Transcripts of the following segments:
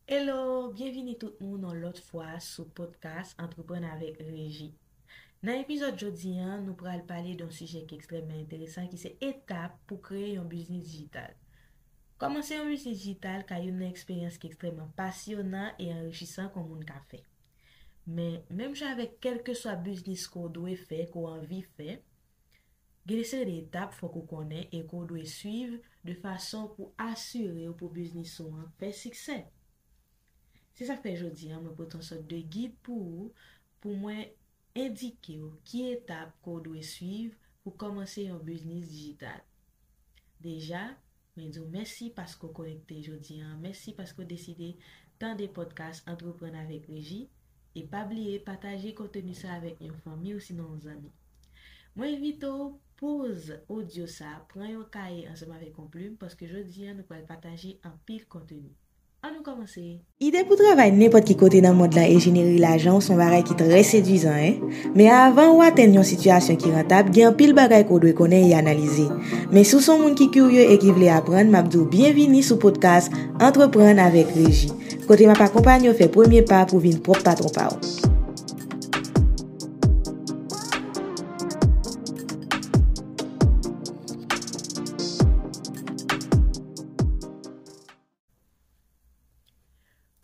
Hello, byenvini tout moun yon lòt fwa sou podcast Antreprann avèk Reji. Nan epizòd jodi an, nou pral pale de yon sijè ki ekstrèmman enteresan ki se etap pou kreye yon biznis dijital. Kòmanse yon biznis dijital ka youn nan eksperyans ki ekstrèmman pasyonan e anrichisan ke yon moun ka fè. Men, menm jan avèk kèlkeswa biznis ke w dwe fè, ke w anvi fè, Gen yon seri de etap fòk ou konnen e ke w dwe swiv de fason pou asire w pou biznis ou an fè siksè. Se sa k fè jodi an mwen pote yon sòt de gid pou ou pou mwen endike w ki etap ke w dwe swiv pou kòmanse yon biznis dijital. Deja, Mwen di w mèsi paske w konekte jodi an, mèsi paske w deside tande pòdkas Antreprann avèk Reji, e pa bliye pataje konteni sa avèk yon fanmi osinon yon zanmi. Mwen envite w poze odyo sa, pran yon kaye ansanm avèk yon plim paske jodi an nou pral pataje anpil konteni. An nou kòmanse! Ide pou travay nenpòt ki kote nan mond lan e jenere lajan w s on bagay ki trè sedwizan hein! Men avan ou atenn yon sitiyasyon ki rantab gen anpil bagay ke w dwe konnen e analize. Men si w s on moun ki kirye e ki vle aprann m ap di w byenvini sou podcast Antreprann avèk Reji, kote m ap akonpanye w fè premye pa pou vin pwòp patwon pa w.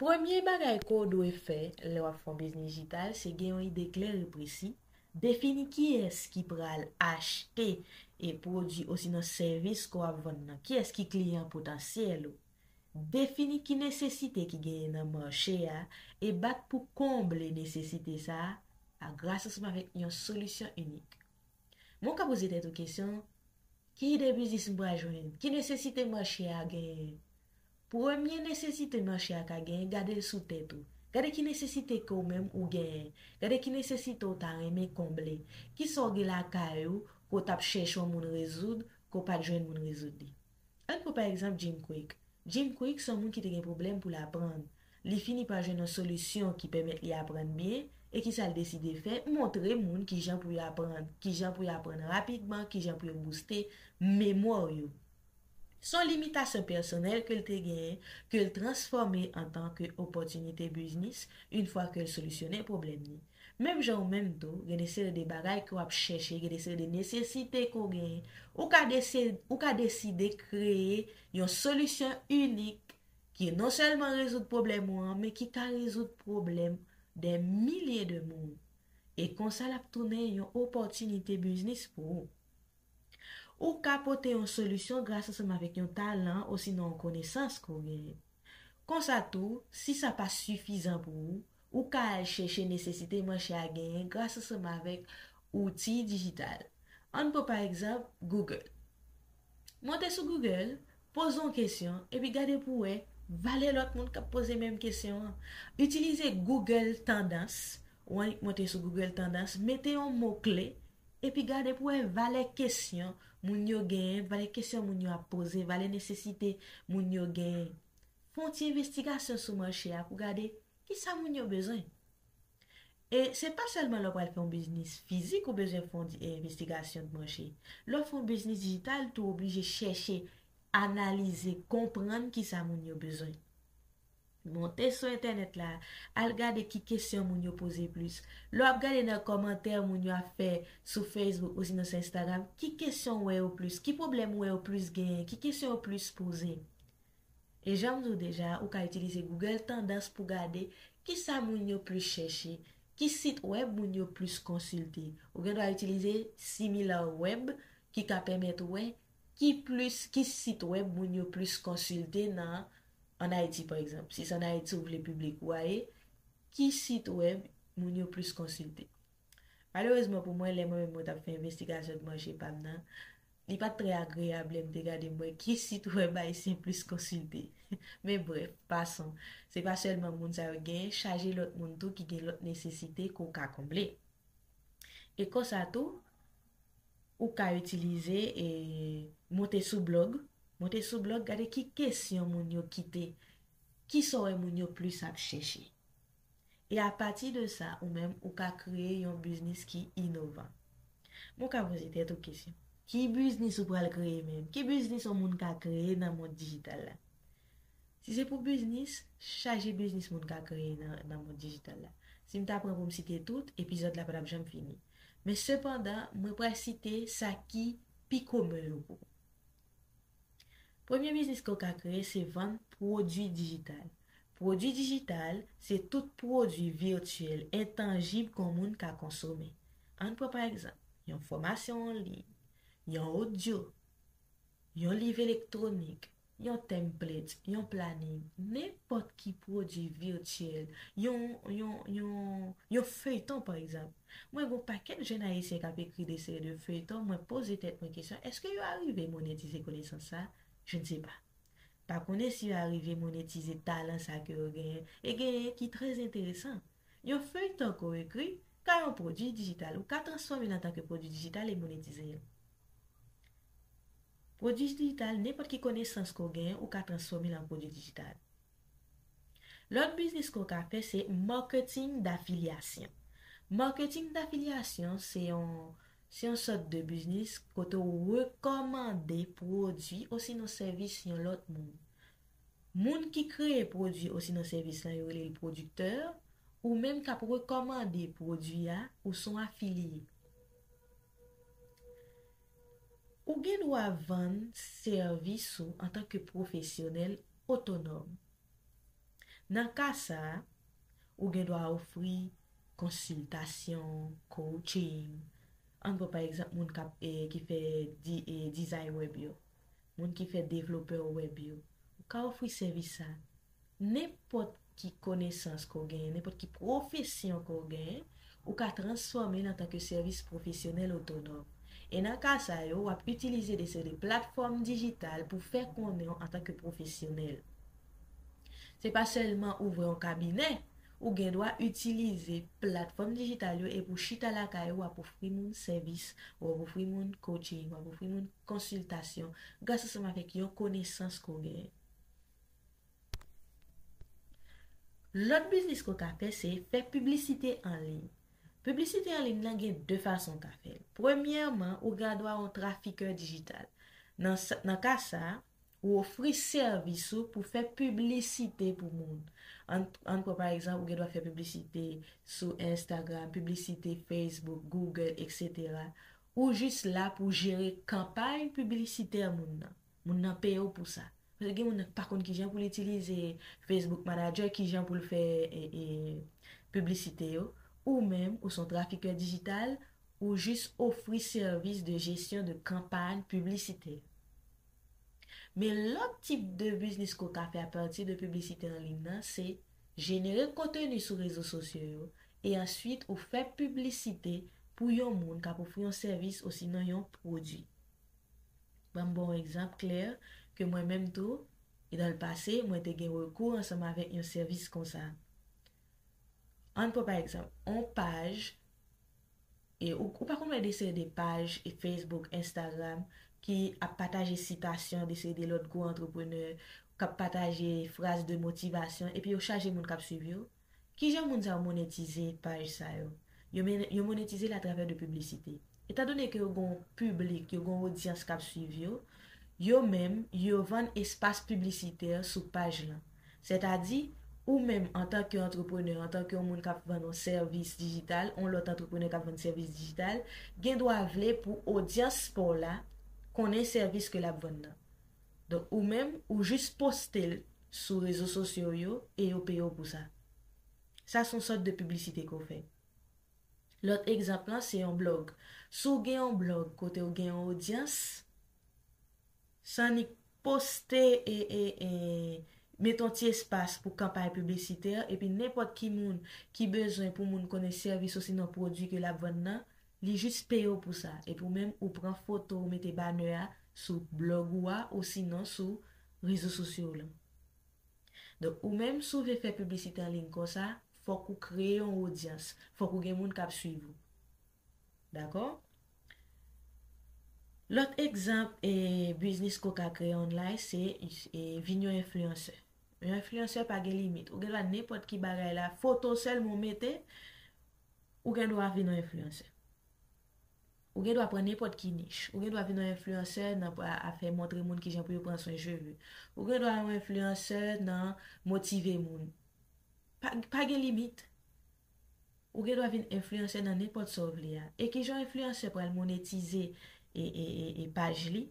Premye bagay ke w dwe fè lè w ap fè yon biznis dijital se gen yon ide klè e presi, defini kiyès ki pral achte e pwodui osinon sèvis ke w ap vann nan, kiyès ki kliyan potansyèl ou, defini ki nesesite ki genyen nan mache a e bat pou konble nesesite sa a gras ansanm avèk yon solisyon inik. Men w ka poze tèt ou kesyon, Ki ide biznis m pral jwenn? Ki nesesite mache a genyen? Premye nesesite mache a ka genyen, gade l sou tèt ou. Gade ki nesesite ke w menm ou genyen. Gade ki nesesite w ta renmen konble. Kisa w gen lakay ou ke w t ap chèche yon moun rezoud, ke w pa t jwenn moun rezoud li? Ann pran pa egzanp Jim Kwik. Jim Kwik se yon moun ki te gen pwoblèm pou l aprann. Li fini pa jwenn yon solisyon ki pèmèt li aprann byen, e ki sa l deside fè? Montre moun ki jan pou yo aprann, ki jan pou yo aprann rapidman, ki jan pou yo bouste memwa yo. Se yon limitasyon pèsonèl ke l te genyen ke l transfòme antanke opòtinite biznis, infwa ke l solisyonnen pwoblèm li. Menm jan ou menm tou, gen de seri de bagay ke w ap chèche, gen de seri de nesesite ke w genyen, ou ka deside, ou ka deside kreye yon solisyon inik ki non sèlman rezoud pwoblèm ou an, men ki ka rezoud pwoblèm dè milye de moun. E konsa l ap tounen yon opòtinite biznis pou ou. Ou ka pote yon solisyon gras ansanm avèk yon talan osinon yon konesans ke w genyen. Konsa tou, si sa pa sifizan pou ou, Ou ka al chèche nesesite manche a genyen gras ansanm avèk outi dijital. An n pran pa egzanp Google. Monte sou Google, poze yon kesyon, epi gade pou w wè valè lòt moun k ap poze menm kesyon an. Itilize Google Tandans, ou annik monte sou Google Tandans, mete yon mo kle, epi gade pou w wè valè kesyon moun yo genyen, valè kesyon moun yo ap poze, valè nesesite moun yo genyen. Fè yon ti envestigasyon sou manche a pou w gade Ki sa moun yo bezwen? E se pa sèlman lè w pral fè yon biznis fizik ou bezwen fè yon envestigasyon de manche. Lè w fè yon biznis dijital tou ou oblije chèche, analize, konprann ki sa moun yo bezwen. Monte sou entènèt la, al gade ki kesyon moun yo poze plis. Lè w ap gade nan kòmantè moun yo ap fè sou Facebook osinon sou Instagram, ki kesyon ou wè yo plis? Ki pwoblèm ou wè yo plis genyen? Ki kesyon yo plis poze? E janm di w deja a, ou ka itilize Google Tandans pou gade ki sa moun yo plis chèche, ki sit wèb moun yo plis konsilte. Ou gen dwa itilize Similarweb ki ka pèmèt ou wè ki plis ki sit wèb moun yo plis konsilte nan an Ayiti pa egzanp. Si se an Ayiti ou vle piblik ou a ye, ki sit wèb moun yo plis konsilte. Malerezman pou mwen, lè mwen menm mwen t ap fè envestigasyon de manje pa m nan, li pa t trè agreyab lè m te gade m wè ki sit wèb ayisyen plis konsilte. Men brèf, pason, se pa sèlman moun sa yo genyen, chaje lòt moun tou ki gen lòt nesesite ke w ka konble. E konsa tou, ou ka itilize e monte sou blòg, monte sou blòg gade ki kesyon moun yo kite, kisa w wè moun yo plis ap chèche. E a pati de sa ou menm ou ka kreye yon biznis ki inovan. Men w ka poze tèt ou kesyon. Ki biznis ou pral kreye menm? Ki biznis yon moun ka kreye nan mond dijital la? Si se pou biznis, chaje biznis moun ka kreye nan mond dijital la. Si m ta pran pou m site tout, epizòd la pa t ap janm fini. Men sepandan, mwen pral site sa ki pi komen yo pou ou. Premye biznis ke w ka kreye se vann pwodui dijital. Pwodui dijital, se tout pwodui vityèl entanjib ke w moun ka konsome. Ann pran pa egzanp, yon fòmasyon an liy, yon odyo, yon liv elektwonik, yon template, yon planin, nenpòt ki pwodui vityèl, yon, yon, yon, yon feyton pa egzanp. Mwen gon pakèt jèn ayisyen kap ekri de seri de feuilleton mwen poze tèt mwen kesyon eske yo arive monetize konesans sa je ne sais pas pa konnen si yo arive monetize talan sa ke yo genyen e genyen ki trè enteresan yon feuilleton ke w ekri ka yon pwodwi dijital ou ka transfòme l antanke pwodwi dijital e monetize l pwodwi dijital nenpòt ki konesans ke w genyen ou ka transfòme l an pwodwi dijital. Lòt biznis ke w ka fè se marketing d'affiliation. Marketing d'affiliation se yon se yon sòt de biznis kote w rekòmande pwodwi osinon sèvis yon lòt moun. Moun ki kreye pwodwi osinon sèvis la yo rele l pwodiktè, ou menm k ap rekòmande pwodwi a, ou s on afiliye. Ou gen dwa vann sèvis ou antanke pwofesyonèl Otonòm. Nan ka sa a, ou gen dwa ofri konsiltasyon, coaching, an pran pa egzanp moun k ap ki fè dizay wèb yo, moun ki fè devlopè wèb yo, ou ka ofri sèvis sa a. Nenpòt ki konesans ke w genyen, nenpòt ki pwofesyon ke w genyen, ou ka transfòme l antanke sèvis pwofesyonèl otonòm. E nan ka sa yo, w ap itilize de seri de platfòm dijital pou fè konnen w antanke pwofesyonèl. Se pa sèlman ouvri yon kabinè, ou gen dwa itilize platfòm dijital yo epi w chita lakay ou w ap ofri moun sèvis, w ap ofri moun coaching, w ap ofri moun konsiltasyon gras ansanm avèk yon konesans ke w genyen. Lòt biznis ke w ka fè se fè piblisite an liy. Piblisite an liy nan gen 2 fason w ka fè l. Premyèman, ou gen dwa yon trafikè dijital. Nan ka sa, ou ofri sèvis ou pou fè piblisite pou moun. Ann pran pa egzanp, ou gen dwa fè piblisite sou Instagram, piblisite Facebook, Google, eksetera. Ou jis la pou jere kanpay piblisitè moun nan. Moun nan peye w pou sa. Paske gen moun nan ki pa konn kijan pou l itilize Facebook Manager, kijan pou l fè piblisite yo. Ou menm, ou se yon trafikè dijital, ou jis ofri sèvis de jesyon de kanpay piblisitè. Men lòt tip de biznis ke w ka fè apati de piblisite an liy nan, se jenere konteni sou rezo sosyo yo, e answit ou fè piblisite pou yon moun k ap ofri yon sèvis osinon yon pwodui. Ban m ba w egzanp klè ke mwen menm tou, nan l pase, mwen te gen rekou ansanm avèk yon sèvis konsa. An n pran pa egzanp, yon paj, e ou pa konn wè de seri de paj Facebook, Instagram ki ap pataje sitasyon de seri de lòt gwo antreprenè, k ap pataje fraz de motivasyon epi yo chaje moun k ap suiv yo? Kijan moun sa yo monetize paj sa yo? Yo monetize l atravè de piblisite. Etan done ke yo gen yon piblik, yo gen yon odyans k ap swiv yo, yo menm, yo vann espas piblisitè sou paj lan. Sètadi, ou menm antanke antreprenè, antanke yon moun k ap vann yon sèvis dijital, yon lòt antreprenè k ap vann sèvis dijital, gen dwa vle pou odyans pa w la konnen sèvis ke l ap vann nan. Donk ou menm ou jis poste l sou rezo sosyo w yo e yo peye w pou sa. Sa s on sòt de piblisite ke w fè. Lòt egzanp lan se yon blòg. Si w gen yon blòg kote w gen yon odyans, san annik poste e e e mete yon ti espas pou kanpay piblisitè epi nenpòt ki moun ki bezwen pou moun konnen sèvis osinon pwodui ke l ap vann nan, Li jis peye w pou sa. Epi w menm ou pran foto w mete banner a sou blog ou a osinon sou rezo sosyo w lan. Donk ou menm si w vle fè piblisite an liy konsa, fòk ou kreye yon odyans, fòk ou gen moun k ap swiv ou. Dakò? Lòt egzanp biznis ke w ka kreye online se vin yon enfliyansè. Yon enfliyansè pa gen limit. Ou gen dwa nenpòt ki bagay la, foto sèlman w mete. Ou gen dwa vin yon enfliyansè. Ou gen dwa pran nenpòt ki nich. Ou gen dwa vin yon enfliyansè nan afè montre moun kijan pou yo pran swen cheve. Ou gen dwa yon enfliyansè nan motive moun. Pa gen limit. Ou gen dwa vin enfliyansè nan nenpòt sa w vle a. E kijan yon enfliyansè pral monetize e paj li,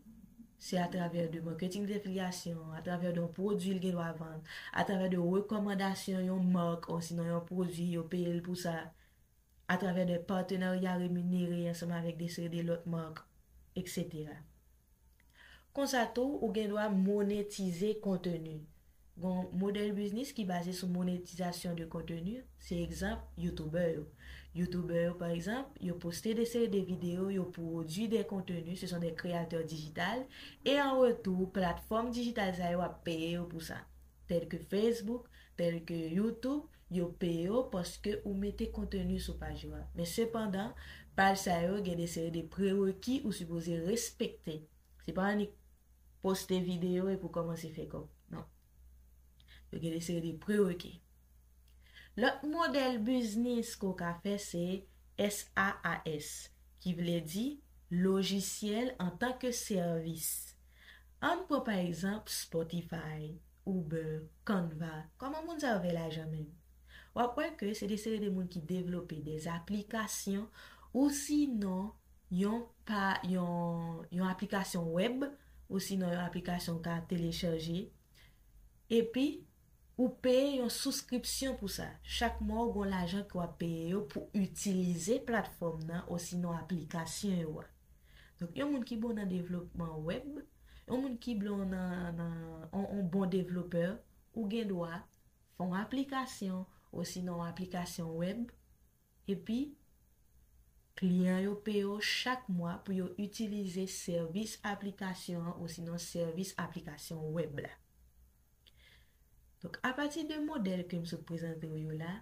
se atravè de marketing de filyasyon, atravè de yon pwodui li gen dwa vann, atravè de rekòmandasyon yon mark osinon yon pwodui yo peye l pou sa, atravè de patenarya reminere ansanm avèk de seri de lòt mark, eksetera. Konsa tou, ou gen dwa monetize konteni. Gon modèl biznis ki baze sou monetizasyon de konteni, se egzanp youtubè yo. Youtubè yo pa egzanp, yo poste de seri de videyo, yo pwodui de konteni, se son de kreyatè dijital, e an retou platfòm dijital sa yo ap peye yo pou sa. Tèl ke Facebook, tèl ke YouTube, yo peye w paske ou mete konteni sou paj yo a. Men sepandan, paj sa yo gen de seri de prereki ou sipoze respekte. Se pa annik poste videyo epi w kòmanse fè kòb. Non. Yo gen de seri de prereke. Lòt modèl biznis ke w ka fè se SaaS, ki vle di lojisyèl antanke sèvis. Ann pran pa egzanp Spotify, Uber, Canva. Kòman moun sa yo fè lajan menm? W ap wè ke se de seri de moun ki devlope de aplikasyon ousinon Yon pa yon yon aplikasyon wèb osinon yon aplikasyon ou ka telechaje. Epi, ou peye yon souskripsyon pou sa. Chak mwa ou gen yon lajan ke w ap peye yo pou itilize platfòm nan osinon aplikasyon yo a. Donk, yon moun ki bon nan devlopman wèb, yon moun ki bon nan nan yon bon devlopè, ou gen dwa fè yon aplikasyon osinon yon aplikasyon wèb. Epi, kliyan yo peye w chak mwa pou yo itilize sèvis aplikasyon an osinon sèvis aplikasyon wèb la. Donk, apati de modèl ke m sot prezante w yo la,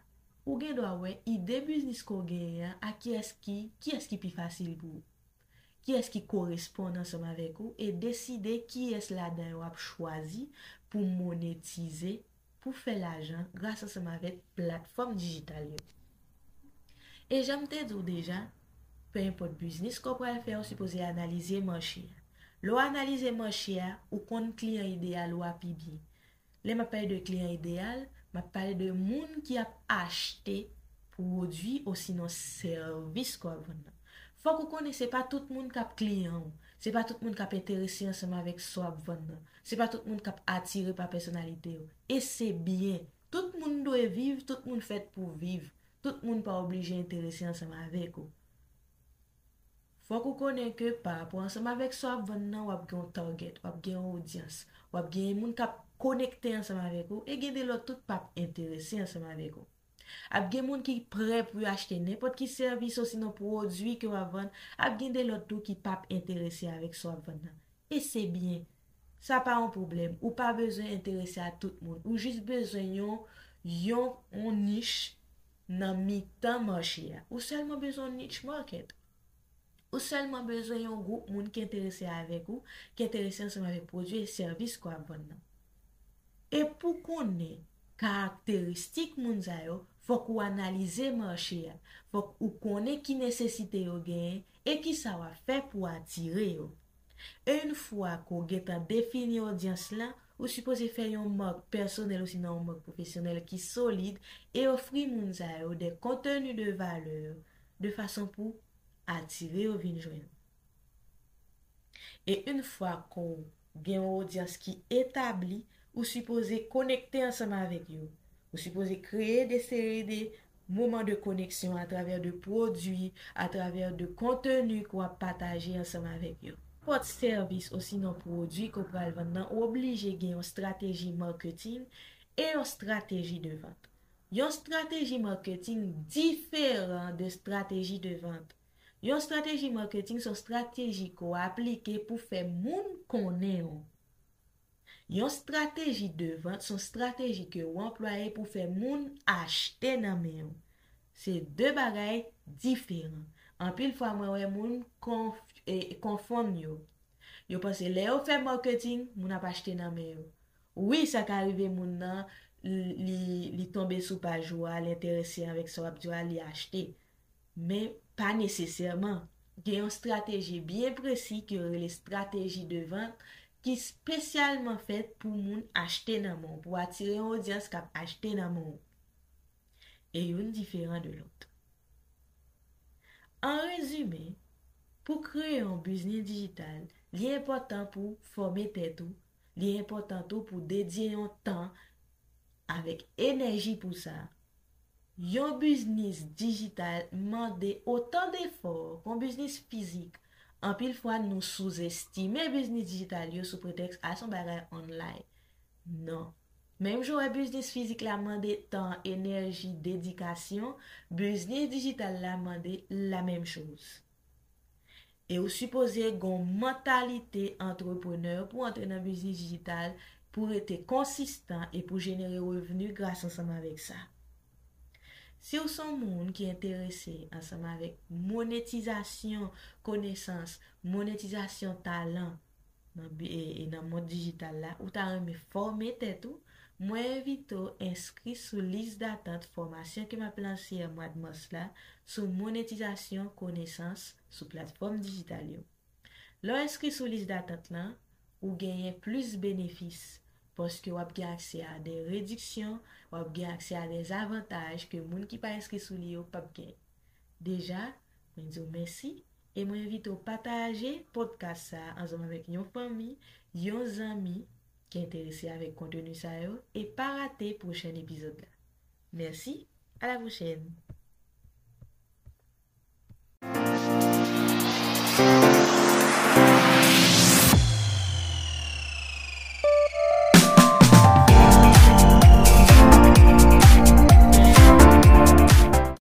ou gen dwa wè ide biznis ke w genyen an ak kiyès ki, kiyès ki pi fasil pou ou. Kiyès ki koresponn ansanm avèk ou e deside kiyès ladan yo w ap chwazi pou monetize pou fè lajan gras ansanm avèk platfòm dijital yo. E jan m te di w deja, pe enpòt biznis ke w pral fè ou sipoze analize mache a. Lè w analize mache a, ou konn kliyan ideyal ou a pi byen. Lè m ap pale de kliyan ideyal, m ap pale de moun ki ap achte pwodui osinon sèvis ke w ap vann nan. Fòk ou konnen se pa tout moun k ap kliyan ou, se pa tout moun k ap enterese ansanm avèk sa w ap vann nan. Se pa tout moun kap atire pa pèsonalite yo. E se byen. Tout moun dwe viv, tout moun fèt pou viv. Tout moun pa oblije enterese ansanm avèk ou. Fòk ou konnen ke pa rapò ansanm avèk sa w ap vann nan, w ap gen yon target, w ap gen yon odyans. W ap gen moun kap konekte ansanm avèk ou, e gen de lòt tou k pap enterese ansanm avèk ou. Ap gen moun ki prè pou yo achte nenpòt ki sèvis osinon pwodui ke w ap vann, ap gen de lòt tou ki p ap enterese avèk sa w ap vann nan. E se byen. Sa pa yon pwoblèm. Ou pa bezwen enterese a tout moun. Ou jis bezwen yon yon on nich nan mitan mache a. Ou sèlman bezwen on niche market. Ou sèlman bezwen yon gwoup moun ki enterese avèk ou, ki enterese ansanm avèk pwodui e sèvis ke w ap vann nan. E pou w konnen karakteristik moun sa yo, fòk ou analize mache a, fòk ou konnen ki nesesite yo genyen e kisa w ap fè pou atire yo. Yn fwa ke w gentan defini odyans lan, ou sipoze fè yon mark pèsonèl osinon yon mark pwofesyonèl ki solid e ofri moun sa yo de konteni de valè de fason pou atire yo vin jwenn ou. E yn fwa ke w gen yon odyans ki etabli, ou sipoze konekte ansanm avèk yo, ou sipoze kreye de seri de moman de koneksyon atravè de pwodui, atravè de konteni ke w ap pataje ansanm avèk yo. Nenpòt sèvis osinon pwodui ke w pral vann nan, ou oblije gen yon strateji marketing e yon strateji de vant. Yon strateji marketing diferan de strateji de vant. Yon strateji marketing son strateji ke w aplike pou fè moun konnen w. Yon strateji de vant son strateji ke w anplwaye pou fè moun achte nan men w. Se de bagay diferan. Anpil fwa mwen wè moun konfonn yo. Yo panse lè yo fè marketing, moun ap achte nan men yo. Wi sa ka rive moun nan li li tonbe sou paj ou a li enterese avèk sa wap di yo a li achte men pa nesesèman gen yon strateji byen presi ke yo rele strateji de vant ki spesyalman fèt pou moun achte nan men w pou atire yon odyans kap achte nan men w e youn diferan de lòt an rezime pou kreye yon biznis dijital li enpòtan pou fòme tèt ou Li enpòtan tou pou dedye yon tan avèk enèji pou sa. Yon biznis dijital mande otan defò kon biznis fizik. Anpil fwa nou souzestime biznis dijital yo sou pretèks a son bagay online. Non. Menm jan w wè biznis fizik la mande tan, enèji, dedikasyon, biznis dijital la mande lamenm choz. E ou sipoze gon mantalite antreprenè pou antre nan biznis dijital, pou rete konsistan e pou jenere revni gras ansanm avèk sa. Si ou son moun ki enterese ansanm avèk monetizasyon konesans, monetizasyon talan, Nan mond dijital la, ou ta renmen fòme tèt ou? Mwen envite w enskri sou lis datant fòmasyon ke m ap lanse an mwad mas la sou monetizasyon konesans sou platfòm dijital yo. Lè w enskri sou lis datant lan, ou genyen plis benefis, paske w ap gen aksè a de rediksyon, w ap gen aksè a de zavantaj ke moun ki pa enskri sou li yo p ap gen. Deja, mwen di w mèsi, E mwen envite w pataje podcast sa a ansanm avèk yon fanmi, yon zanmi ki enterese avèk konteni sa yo e pa rate pwochen epizòd la. Mèsi, a la pwochèn!